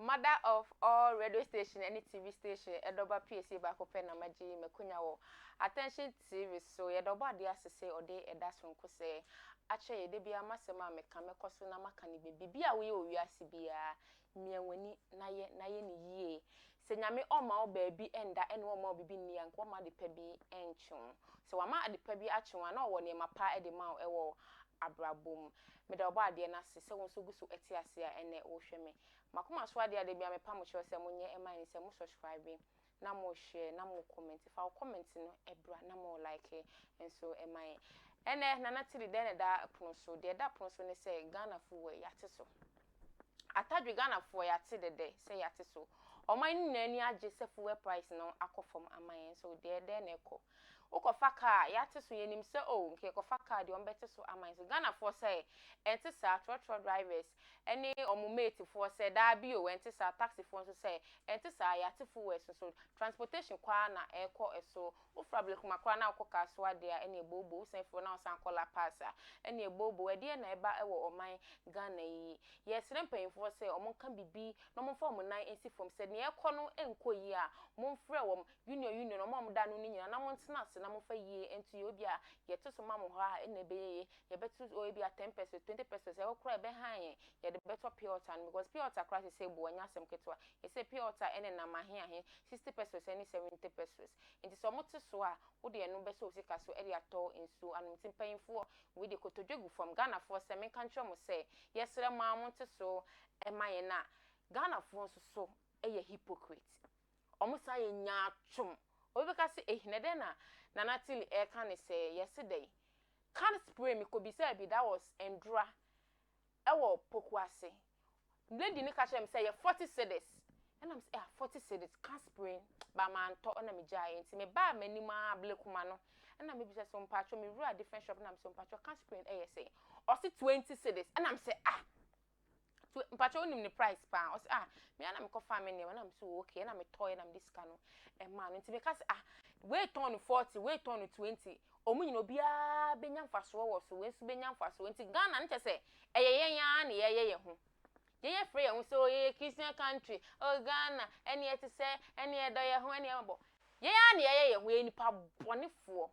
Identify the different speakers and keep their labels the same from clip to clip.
Speaker 1: Mother of all radio station ne TV station ɛdɔ ba PSA baako pɛ na magye makonya wɔ Attention TV so yɛdɔ bɔ adeɛ ase sɛ ɔde ɛda sonko sɛ akyɛ yɛde bia masɛm a meka mɛkɔ so na maka ne baabi bi a woyɛ wɔ wiase biara Mia w'ani na yɛ na yɛ no yie. Sɛ Nyame ɔmma wo baabi nda ɛna ɔmma wo bibi nni a, nka ɔmma adepa bi nkye wo. Sɛ wama adepa bi akye wo a, na ɔwɔ nneɛma pa de ma wo ɛwɔ abrabɔ mu. Meda Ɔbɔadeɛ no ase sɛ wo nso gu so te ase a ɛnɛ wohwɛ me. M'akoma so adeɛ a da biara mepamo kyerɛ sɛ monyɛ ɛma yɛn ne sɛ mo subscribe na mo share na mo comment fa wo comment no bra na mo like nso ma yɛn ɛnɛ Nana Tiri dɛn na ɛda pono so deɛ ɛda pono so ne sɛ Ghana fo wɔ yɛate so atadwe Ghana foɔ yɛate dɛdɛ sɛ yɛate so ɔman no nyinaa ani agye sɛ fuel price no akɔ fam ama yɛn so deɛ dɛn na ɛkɔ. Wokɔfa car a, yɛate so, yɛnim sɛ oh, nka yɛkɔfa car deɛ wɔbɛte so ama yɛn sɛ Ghanafoɔ sɛ, ɛnte saa, trɔtrɔ drivers ne wɔn mate foɔ sɛ, daabi o, ɛnte saa, taxi foɔ nso sɛ, ɛnte saa, yɛate fuels nso, transportation kɔ ara na ɛrekɔ so, wofiri Ablekuma koraa na wokɔ Kasoa deɛ a, ɛne ɛbɔ obo, wosan firi hɔ na wosan kɔ La Paz a, ɛne ɛbɔ obo, ɛdeɛn na ɛba wɔ ɔman Ghana yi, yɛresrɛ mpaninfoɔ sɛ wɔnka biribi na wɔmfa wɔn nan nsi fam sɛ, deɛ ɛrekɔ no nkɔ yie a, momfrɛ wɔn, Union Union ɔmo a ɔmo da ano no nyinaa na mo ntena ase na mo fa yie nto yɛ ebia yɛ to so ma mo hɔ a ɛna ɛbɛyɛ yie yɛ bɛ to so ebia ten pesos twenty pesos ɛhɔ koraa ɛbɛ han yɛn yɛ de bɛ tɔ pure water no because pure water koraa sɛsɛ ɛbu ɛnyɛ asɛm ketewa yɛ sɛ pure water ɛne nam ahe ahe sixty pesos ɛne seventy pesos nti sɛ ɔmo te so a wo de ɛno bɛsɔ wo sika so ɛde atɔ nsuo anom nti mpanyinfoɔ wei deɛ kotodwe gu fam Ghanafoɔ sɛ menka nkyerɛ mo sɛ yɛ srɛ mo ara mo nte so ɛma yɛn na Ghanafoɔ nso so ɛyɛ hypocrite. Wɔsan yɛ nyaatwom. Obi bɛka sɛ, Ei, na ɛdɛn na Nana Tilly reka ne sɛɛ? Yɛse dɛn? Can spray Mekɔbisaa bi, that was Ndura, wɔ Pokuase. Lady no ka kyerɛɛ me sɛ ɛyɛ forty cedis. Ɛna mese, Ah, forty cedis, can spray? But mantɔ, ɛna megyaeɛ. Nti mebaa m'anim ara blekuma no, ɛna mebisa sɛ, Mpakyɛw, mewuraa different shop, ɛna mese, Mpakyɛw, can spray yɛ sɛn? Ɔse twenty cedis. Ɛna mese, Ah! So mpakyɛ wonim ne price paa? Ɔse ah me ara na mekɔ faa me nneɛma na mese oh okay ɛna metɔɔyɛ na mede sika no ɛmaa no nti meka se ah wei tɔn no forty wei tɔn no twenty wɔn nyina obiara bɛnya mfasoɔ wɔ so wei nso bɛnya mfasoɔ nti Ghana no kyɛ sɛ ɛyɛ yɛn ara na yɛyɛ yɛn ho yɛyɛ frɛ yɛn ho sɛ oh yɛyɛ Christian country oh Ghana ɛne ɛte sɛ ɛne ɛdɔ yɛn ho ɛne ɛmɔbɔ yɛn ara na yɛyɛ yɛn ho yɛyɛ nipa bɔnefoɔ.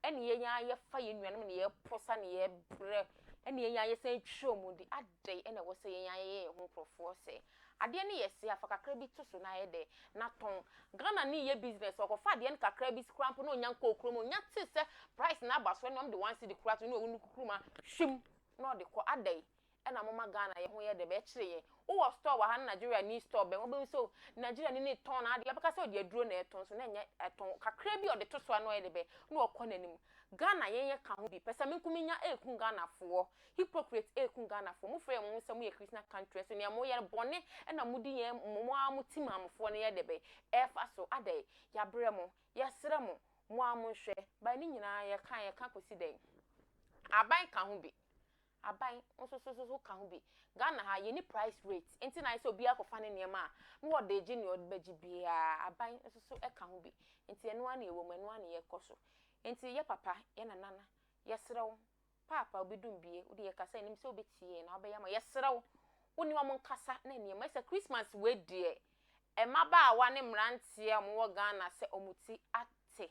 Speaker 1: ɛne yɛn ara yɛfa yɛn nuanom ne yɛposa ne yɛbrɛ ɛne yɛn ara yɛsan twerɛ mu de adɛn ɛna ɛwɔ sɛ yɛn ara yɛyɛ yɛn ho nkurɔfoɔ sɛ adeɛ no yɛ se afa kakra bi to so na ayɛ dɛ na tɔn Ghana ni yɛ business ɔkɔfa adeɛ no kakra bi koraa mpo na ɔnya nkɔɔ kurom ɔnya te sɛ price no aba so ɛne ɔmde one cedi koraa to ne ɔwɔ ne kukurom a hwim na ɔde kɔ adɛn Ɛna moma Ghana yɛho yɛ dɛ bɛkyere yɛn wo wɔ store wɔ ha na Nigeria ni store bɛn wobɛhu sɛ Nigeria ni ne tɔn n'adeɛ wobɛka sɛ ɔde aduro na ɛtɔn so na ɛnyɛ ɛtɔn kakra bi a ɔde to so a na ɔyɛ dɛ bɛn na ɔkɔ n'anim Ghana yɛn yɛ ka ho bi pɛ sɛ me nko me nya ɛɛku Ghanafoɔ hypocrite ɛɛku Ghanafoɔ mo frɛ mo ho sɛ mo yɛ Christian country nso nea mo yɛ no bɔne ɛna mo di yɛn mo mo ara mo ti maamofoɔ no yɛ dɛ bɛn ɛɛfa so adɛn yabrɛ mo yɛsrɛ mo mo ara mo nhwɛ by ne nyinaa yɛka yɛka kɔsi dɛn aban ka ho bi. Aban nso so so ka ho bi. Ghana ha, yɛnni price rate, enti na ayɛ sɛ obiara kɔfa ne nneɛma a, na ɔde regye nea ɔde bɛgye biara. Aban nso so ka ho bi. Enti ɛno ara na ɛwɔ mu, ɛno ara na yɛkɔ so. Enti yɛ papa, yɛ nana, yɛsrɛ wo, Paapa, obi dum bie, wo deɛ yɛ kasa, yɛnim sɛ wo bɛtie yɛn na wo bɛyɛ ama, yɛsrɛ wo, wo ne wɔn nkasa na nneɛma, ɛfiri sɛ Christmas wei deɛ, mmabaawa ne mmeranteɛ a wɔn wɔ Ghana sɛ wɔn ti ate,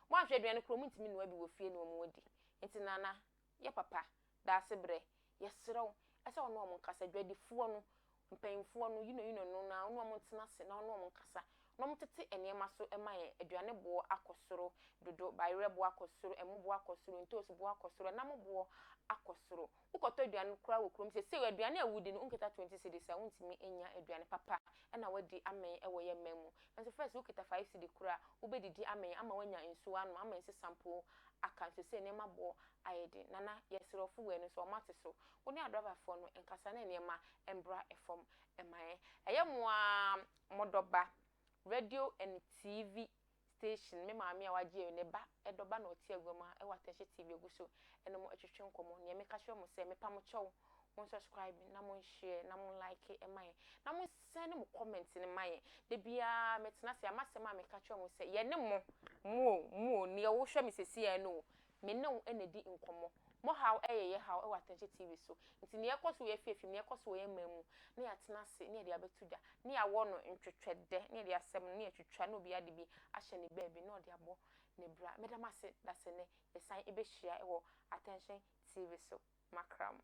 Speaker 1: wɔn anhwɛ aduane koraa wɔn ntumi nnua bi wɔ fie ne wɔn adi. Enti nana, Yɛ papa, da ase brɛ. Yɛsrɛ wo, sɛ wo ne wɔn nkasa, dwadifoɔ no, mpanimfoɔ no, yino yino no, na wo ne wɔn ntena ase, na wo ne wɔn nkasa, na wɔntete nneɛma so mma yɛn, aduane boɔ akɔ soro dodo, bayerɛ boɔ akɔ soro, ɛmo boɔ akɔ soro, ntoosi boɔ akɔ soro, ɛnam boɔ akɔ soro. Wokɔtɔ aduane koraa wɔ kurom seesei, aduane a wodi no, wonkita twenty cedis a, wontumi nnya aduane papa na woadi amee wɔ yɛn man mu. Nanso first, wokita five cedi koraa a, wobɛdidi amee ama woanya nsuo anom, ama nsesã mpo aka nso sɛ nneɛma bɔ ayɛ den. Nana, yɛsrɛ wo, fo w'ani nso ɔma te so. Wo ne adrabafoɔ no nkasa na nneɛma mbra fam ma yɛn. Ɛyɛ mo ara mo dɔba radio and TV station, me maame a wagye awie, ne ba dɔba na ɔte agua mu ha wɔ Atɛnhyɛ TV agu so ne mo retwetwe nkɔmmɔ. Nea meka kyerɛ mo sɛ, mepa mo kyɛw, mo nsɔskraibe na mo nhyɛɛ na mo nlaeke ma yɛn, na mo. Sɛn ne mo comment no ma yɛn. Da biara me tena ase a masɛm a meka kyerɛ mo sɛ yɛne mo, mo o, mo o, neɛ wo hwɛ me sesiɛ no o, me ne wo na di nkɔmmɔ. Mo haw yɛ yɛ haw wɔ Atɛnkyɛ TV so. Nti neɛ ɛkɔ so wɔ yɛ afiafi mu, neɛ ɛkɔ so wɔ yɛ man mu ne yɛatena ase ne yɛde abɛto dwa, ne yɛawɔ no ntwetwɛdɛ, ne yɛde asɛm no ne yɛatwitwa na obiara de bi ahyɛ ne baabi na ɔde abɔ ne bra. Meda mo ase da sɛ nnɛ yɛsan bɛhyia wɔ Atɛnkyɛ TV so. Makra mo.